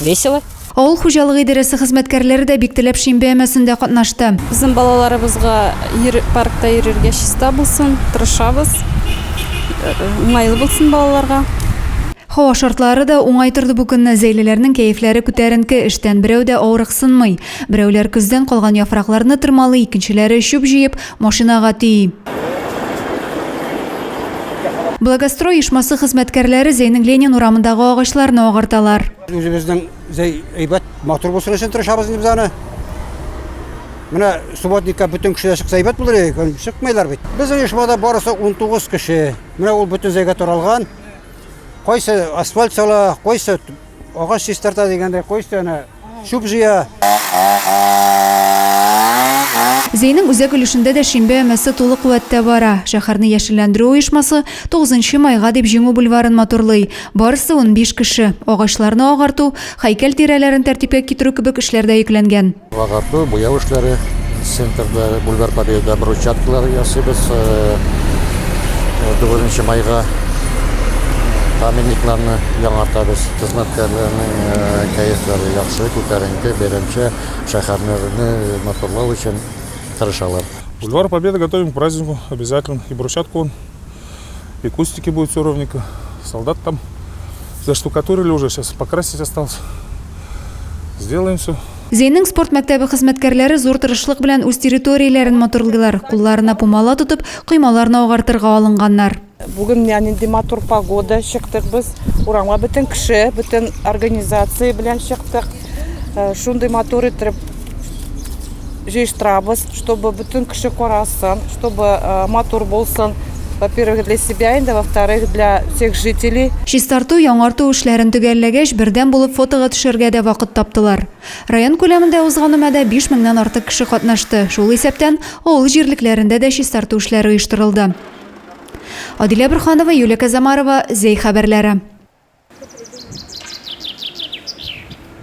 весело. Авыл хуҗалыгы идарәсе хезмәткәрләре дә бик теләп шимбә өмәсендә катнашты. Безнең балаларыбызга паркта йөрергә чиста булсын, тырышабыз. Уңайлы булсын балаларга. Һава шартлары да уңай торды бу көнне. Зәйлеләрнең кәефләре күтәренке, эштән берәү дә авырыксынмый. Берәүләр көздән калган яфракларны тырмалый, икенчеләре чүп җыеп, Машинага ти. Благострой ешмасы хезмәткәрләре Зәйнең Ленин урамындагы агачларны агарталар. Үзебезнең Зәй әйбәт, матур булсын өчен тырышабыз инде без аны. Менә субботникка бөтен кешеләр чыкса әйбәт булыр иде, чыкмыйлар бит. Безнең оешмада барысы 19 кеше. Менә ул бөтен Зәйгә таралган. Кайсы асфальт сала, кайсы Агач чистарта дигәндәй, кой өстенә чүп җыя. Зәйнең үзәк өлешендә дә шимбә өмәсе тулы куәттә бара. Шәһәрне яшелләндерү оешмасы Тугызынчы майга дип Җиңү бульварын матурлый. Барысы унбиш кеше. Агачларны агарту, һәйкәл тирәләрен тәртипкә китерү кебек эшләрдә йөкләнгән. Агарту, буяу эшләре центрда, Бульвар Победа брусчаткалар ясыйбыз. Э, э, Дүртенче майга памятникларны яңартабыз. Хезмәткәрләрнең э, кәефләре яхшы, күтәренке, бәйрәмчә шәһәрне матурлау өчен тырышалар. Бульвар Победы готовим к празднику обязательно и брусчатку И кустики будут все ровненько. Солдат там заштукатурили уже, сейчас покрасить осталось. Сделаем все. Зейнең спорт мәктәбе хезмәткәрләре зур тырышлык белән үз территорияләрен матурлыйлар. Кулларына пумала тотып, коймаларны агартырга алынганнар. Бүген нинди матур погода, чыктык без. Урамга бөтен кеше, бөтен организация белән чыктык. э, шундый матур итеп җыештырабыз, чтобы бөтен кеше карасын, чтобы э, матур булсын. Во-первых, для себя инде, во-вторых, для всех жителей. Чистарту, яңарту эшләрен төгәлләгәч, бердәм булып фотога төшәргә дә вакыт таптылар. Район күләмендә узган өмәдә 5 меңнән артык кеше катнашты. Шул исәптән авыл җирлекләрендә дә чистарту эшләре оештырылды. Адилә Бирханова, Юлия Казамарова, Зәй хәбәрләре.